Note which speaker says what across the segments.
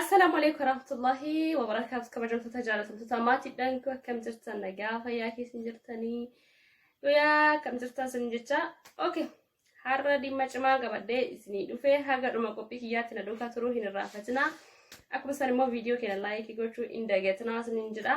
Speaker 1: Assalaamu alaikum warahmatullahi wabarakaatu kabajamtoota jaalatamtoota maatiidhaan akkam jirtan nagaa fayyaa keessan jirtanii guyyaa akkam jirtan sin jecha okay har'a dhimma cimaa qabadhee isinii dhufee haga dhuma qophii kiyyaatti na duukaa turuu hin irraanfatinaa akkuma san immoo viidiyoo keenya laayikii gochuu hin dagatinaa isiniin jedha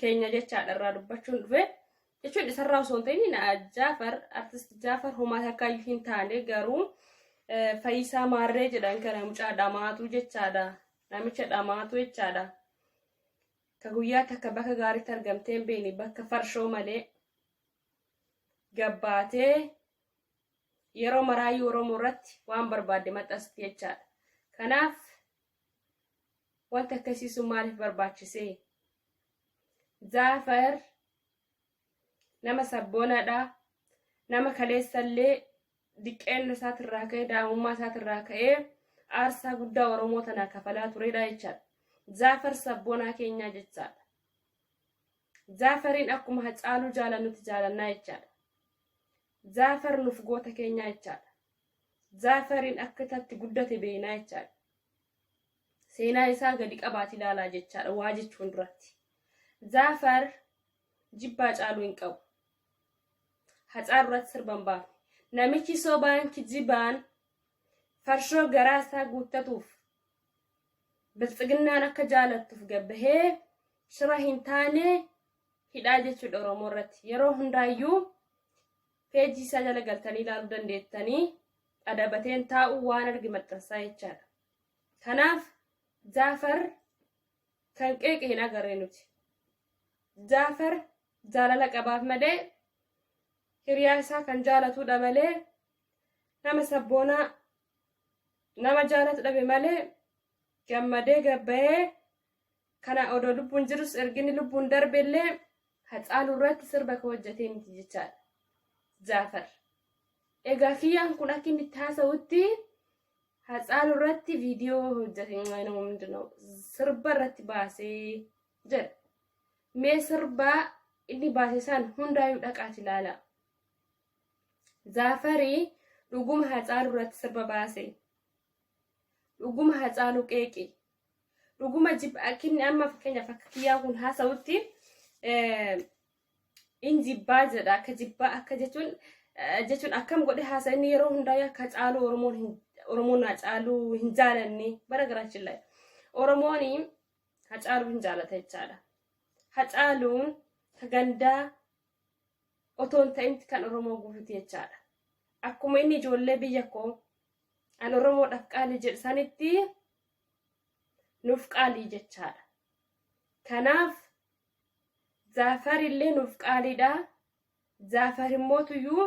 Speaker 1: keenya jechaadha irraa dubbachuun dhufe jechuun isarraa osoo hin ta'in jaafar artist jaafar homaa takkaa iyyuu hin taane garuu fayyisaa maarree jedhan kana mucaa dhamaatu jechaadha namicha dhamaatu jechaadha ka guyyaa takka bakka gaariitti argamtee hin beekne bakka farshoo malee gabbaatee yeroo maraayii oromoo irratti waan barbaadde maxxansitti jechaadha kanaaf Wanti akkasii sun maaliif barbaachise? Zaafar nama sabboonaadha. Nama kaleessallee diqqeenna isaatirraa ka'ee daa'imummaa isaatirraa ka'ee aarsaa guddaa Oromoo tanaa kafalaa turedha jechaadha. Zaafar sabboonaa keenyaa jechaadha. Zaafariin akkuma hacaaluu jaalannutti jaalannaa jechaadha. Zaafar nuuf goota keenyaa jechaadha. Zaafariin akka tatti guddate beeynaa jechaadha. Seenaa isaa gadi qabaati ilaalaa jechaadha waa jechuun duratti. Zaafar jibbaa caaluu hin qabu. Hacaalu irratti sirba hin baafne. Namichi sobaan kijibaan farshoo garaa isaa guuttatuuf bilxiginnaan akka jaalattuuf gabbahee shira hin taane hidhaa jechuudha Oromoo irratti. Yeroo hundaayyuu Page isaa jala galtanii ilaaluu dandeettanii dhadabateen taa'uu waan arge maxxansaa jechaadha. Kanaaf Jaafar kan qeeqe hin agarre nuti. Jaafar jaalala qabaaf malee hiriyaa isaa kan jaalatudha malee nama sabboonaa nama jaalatu dhabe malee gammadee gabbayee Kana odoo lubbuun jirus erginni lubbuun darbe illee Hacaaluu irratti sirba ka hojjetee miti jechaadha. Jaafar. Egaa kiyyaan kun akka inni itti haasa'utti Hacaaluu irratti viidiyoo hojjete nama hundinuu sirba irratti baasee jedha. Mee sirba inni baase san hundaayyuu dhaqaati ilaala. Jaafarii dhuguma Hacaaluu irratti sirba baase. Dhuguma Hacaaluu qeeqi. dhuguma jib- akkinni amma fakkeenyaaf akka kiyyaa kun haasa'utti eh, in jibbaa jedha akka jibbaa akka jechuun eh, jechuun akkam godhe haasa inni yeroo hundaa akka caaluu oromoon hin oromoon haa caaluu hin jaalanne bara garaachin lae oromoon haa caaluu hin jaalata jechaadha haa caaluun ka gandaa otoo hin ta'in kan oromoo guututi jechaadha akkuma inni ijoollee biyya koo an oromoodhaaf qaali jedhu sanitti nuuf qaalii jechaadha. Kanaaf Zaafar illee nuuf qaaliidha. Zaafar immoo tuyyuu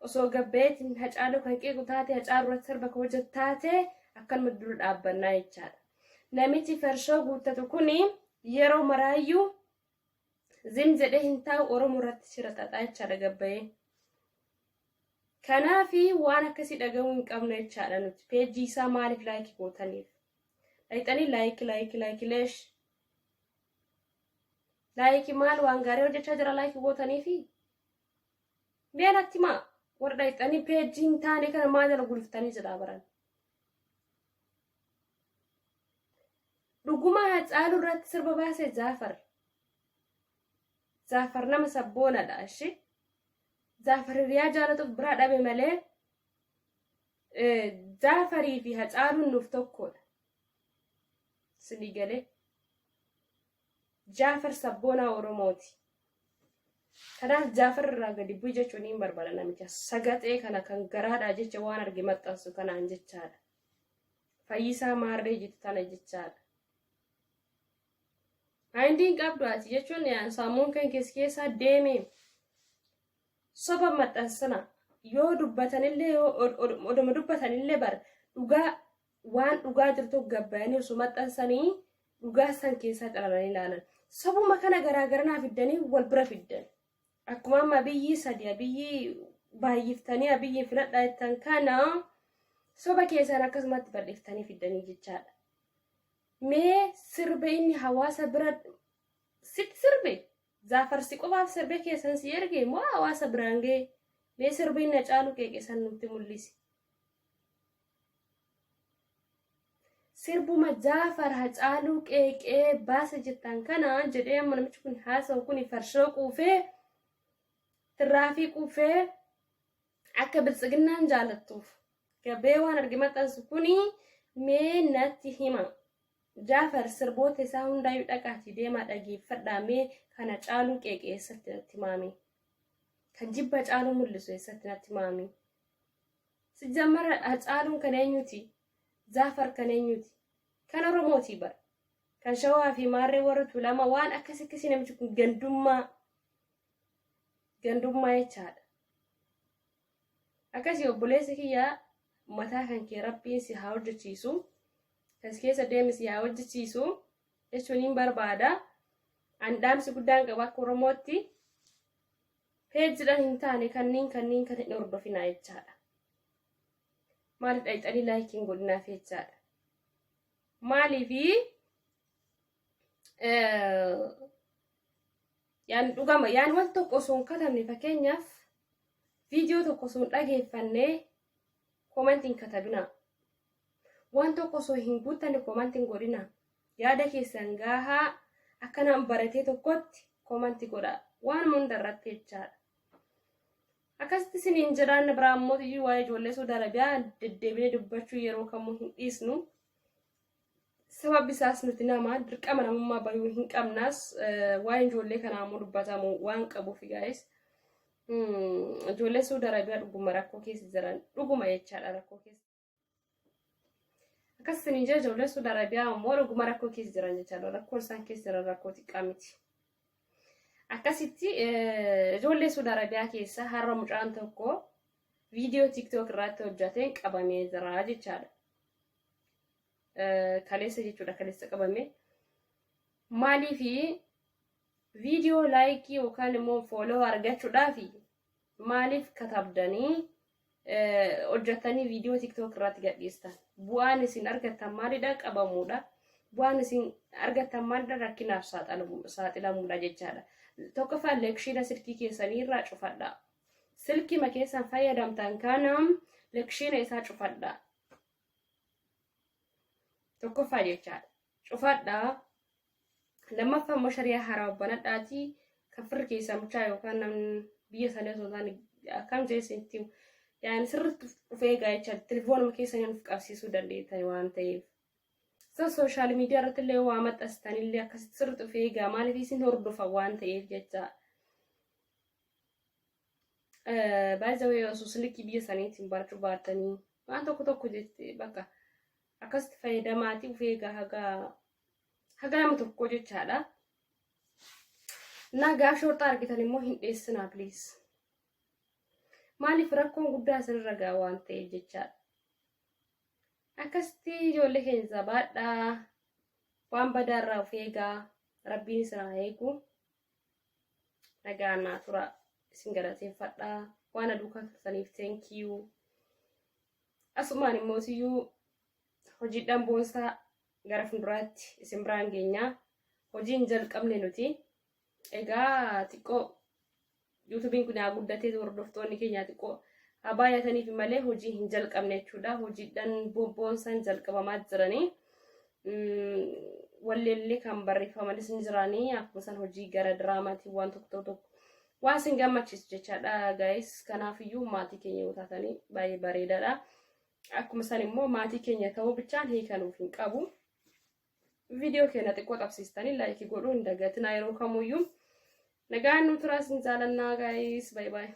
Speaker 1: osoo gabbayeetiin hacaaluu kan qeequ taate hacaaluu irratti sirba koo jettaate akkanuma dura dhaabbannaa jechaadha. Namichi farshoo guuttatu kun yeroo maraayyuu Zim jedhee hin taa'u Oromoo irratti shira xaxaa jechaadha gabbayee. Kanaafi waan akkasii dhaga'uu hin qabnu jechaadha nuti. Peejii isaa maaliif laayikii gootaniif? Dhayxanii laayikii laayikii laayikii leesh. Laayikii maal waan gaarii hojjechaa jira laayikii gootaniifi? Mee natti maa warra dhayxanii peejii hin taane kana maal jala gulftanii jira baran? Dhuguma Hacaaluu irratti sirba baase Jaafar. Jaafar nama sabboonadha ishi. Jaafar hiriyaa jaalatuuf biraa dhabe malee Jaafarii fi Hacaaluun nuuf tokkodha. Isinii galee. Jaafar sabboonaa Oromooti. Kanaaf Jaafar irraa gadi bu'i jechuun hin barbaada namicha. Sagaxee kana kan garaadhaa jecha waan arge maxxansu kanaan jechaadha. Fayyisaa maarree jitu tana jechaadha. Maayindiin qabdu ati jechuun sammuun kan keessa keessaa deemee soba maxxansana yoo dubbatanillee yoo oduma dubbatanillee bar dhugaa waan dhugaa jirtu gabbayanii osoo maxxansanii dhugaa san keessaa xalalanii ilaalan. Sobuma kana garaagaranaa fiddanii wal bira fiddan. Akkuma amma abiyyii sadi abiyyii baay'iftanii abiyyiin filadhaa jettan kana soba keessan akkasumatti bal'iftanii fiddanii jechaadha. Mee sirba inni hawaasa bira sitti sirbe zaafarsi qofaaf sirbe keessan si erge moo hawaasa biraan ga'e mee sirbi inni caalu qeeqesan nutti mul'isi. sirbuma jaafar hacaaluu qeeqee baasa jettaan kana jedhee amma namichi kun haasa'u kun farshoo quufee tirraafii quufee akka biltsiginnaan jaalattuuf gabee waan arge maxxansu kun mee natti hima jaafar sirboota isaa hundaayyuu dhaqaatii deemaa dhageeffadhaa mee kana caaluu qeeqee eessatti natti maame kan jibba caaluu mul'isu eessatti natti maame. Sijjammarra Hacaaluun kan eenyuti? Zaafar kan eenyuti? Kan Oromooti bar. Kan Shawaa fi Maarree warra Tuulamaa waan akkas akkasii namichi kun gandummaa gandummaa jechaadha. Akkasii obboleessa kiyyaa mataa kan kee rabbiin si haa hojjechiisu. Kas keessa deemi si haa hojjechiisu jechuun hin barbaada. An dhaamsi guddaan qaba akka Oromootti. Peejidhan hin taane kanniin kanniin kan hin hordofinaa jechaadha. Maaliif dhayxanii laayikii hin godhinaaf jechaadha. Maaliifi yaan dhugama yaan wal tokko osoo hin katabne fakkeenyaaf viidiyoo tokko osoo hin dhageeffanne koomantii hin katabinaa. Waan tokko osoo hin guuttanne koomantii hin godhinaa. Yaada keessan gaahaa akka naan baratee tokkotti komanti godhaa. Waan hunda irratti jechaadha. Akkasitti isiniin jiraanna biraa immoo iyyuu waa'ee ijoollee Saudi Arabiyaa deddeebinee dubbachuu yeroo kamuu hin dhiisnu. Sababni isaas nuti nama dirqama namummaa bayuu hin qabnas waa'een ijoollee kanaa immoo dubbatamu waan qabuuf gaa'is. Ijoollee Saudi Arabiyaa dhuguma rakkoo keessa jiran dhuguma jechaadha rakkoo keessa. Akkas isin ija ijoollee Suudi Arabiyaa immoo dhuguma rakkoo keessa jiran jechaadha. Rakkoon isaan keessa jiran rakkoo xiqqaa miti. Akkasitti ijoollee Suudi Arabiyaa keessa har'a mucaan tokko viidiyoo TikTok irratti hojjateen qabamee jira jechaadha. Kaleessa jechuudha kaleessa qabame. Maaliif viidiyoo laayikii yookaan immoo fooloo argachuudhaaf Maaliif katabdanii hojjattanii viidiyoo tiktook irratti gadhiistan? Bu'aan isin argattan maalidha? Qabamuudha. Bu'aan isin argattan maalidha? Rakkinaaf saaxilamuudha jechaadha. Tokkoffaa lekshiina silkii keessanii irraa cufadha. Silkima keessan fayyadamtan kana lekshiina isaa cufadha. Tokkoffaa jechaadha. Cufadha. Lammaffaa immoo shari'aa haaraa banadhaatii kan firri keessaa mucaa yookaan namni biyya isaanii osoo hin taane akkam jeessa itti himu. Yaani sirriitti of eegaa jecha telefoonuma keessa inni nuuf qabsiisuu dandeettan waan ta'eef. Isa sooshaal miidiyaa irratti illee waa maxxansitan illee akkasitti sirriitti of eegaa maaliif isin hordofa waan ta'eef jecha. Baay'ee osoo silkii biyya isaaniitiin barachuu baattanii waan tokko tokko jettee bakka akkasitti fayyadamaatii of eegaa hagaa haga nama tokkoo jechaadha naa gaaf shorxaa argitan immoo hin dheessinaa please maaliif rakkoon guddaa isinirra ga'a waan ta'eef jechaadha akkasitti ijoollee keenya jabaadhaa waan badaarraa of eegaa rabbiin isin haa eegu nagaan naa tura isin galateeffadha waan aduukaa turtaniif teenkiyuu asumaan immoo siyyuu hojiidhaan boonsaa gara fulduraatti isin biraan geenyaa hojiin jalqabne nuti egaa xiqqoo yuutubiin kun haa guddatee hordoftoonni keenyaa xiqqoo haa baay'ataniif malee hojii hin jalqabne jechuudha hojiidhaan boonsan jalqabamaa jiranii walleellee kan barreeffamanis ni jiranii akkuma san hojii gara diraamaatiin waan tokko tokko waan isin gammachiisu jechaadha gaa'is kanaafiyyuu maatii keenya yoo taatanii baay'ee bareedaadha. Akkuma san immoo maatii keenya ta'uu bichaan hiika nuuf hin qabu. Viidiyoo keenya xiqqoo qabsiistanii laayikii godhuu hin dagatinaa yeroo kamuyyuu. Nagaan nu turaa sin jaalannaa gaayis. Baay'ee baay'ee.